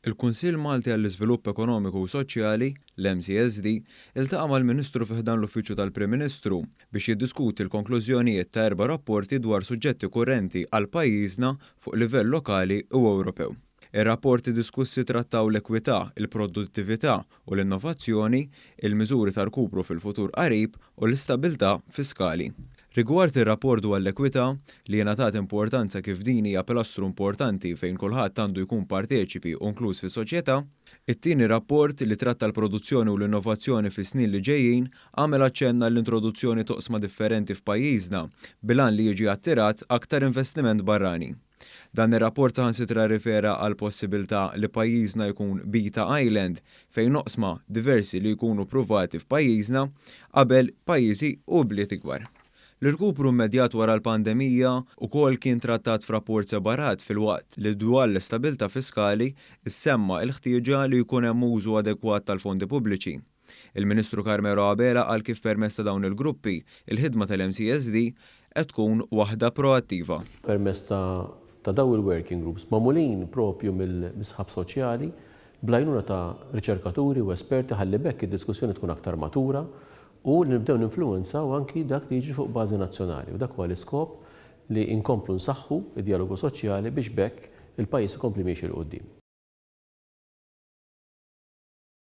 Il-Kunsill Malti għall-Iżvilupp Ekonomiku u Soċjali, l-MCSD, iltaqa' mal-Ministru fi ħdan l-Uffiċċju tal-Prim Ministru biex jiddiskuti l-konklużjonijiet ta' erba' rapporti dwar suġġetti kurrenti għal pajjiżna fuq livell lokali u Ewropew. Ir-rapporti diskussi trattaw l-ekwità, il-produttività u l-innovazzjoni, il-miżuri ta' rkupru fil-futur qarib u l-istabbiltà fiskali. Rigward ir-rapport dwar l-ekwità, li ingħatat importanza kif din hija pilastru importanti fejn kulħadd għandu jkun parteċipi u inkluż fis-soċjetà, it-tieni rapport, li tratta l-produzzjoni u l-innovazzjoni fis-snin li ġejjin, għamel aċċenn għall-introduzzjoni t'oqsma differenti f'pajjiżna bil-għan li jiġi attirat aktar investiment barrani. Dan ir-rapport saħansitra rrifera għall-possibiltà li pajjiżna jkun beta island fejn oqsma diversi li jkunu ppruvati f'pajjiżna qabel pajjiżi u bliet ikbar. L-irkupru immedjat wara l-pandemija wkoll kien trattat f'rapport separat filwaqt li dwar l-istabilità fiskali ssemma' l-ħtieġa li jkun hemm użu adegwat tal-fondi pubbliċi. Il-Ministru Carmelo Abela qal kif permezz ta' dawn il-gruppi, il-ħidma tal-MCSD qed tkun waħda proattiva. Permezz ta' ta' dawn il-working groups, magħmulin proprju mill-sħab soċjali, bl-għajnuna ta' riċerkaturi u esperti ħalli b'hekk id-diskussjoni tkun aktar matura u li nibdew ninfluwenzaw anki dak li jiġri fuq bażi nazzjonali u dak huwa l-iskop li inkomplu nsaħħu d-djalogu soċjali biex b'hekk il-pajjiż ikompli miexi 'l quddiem.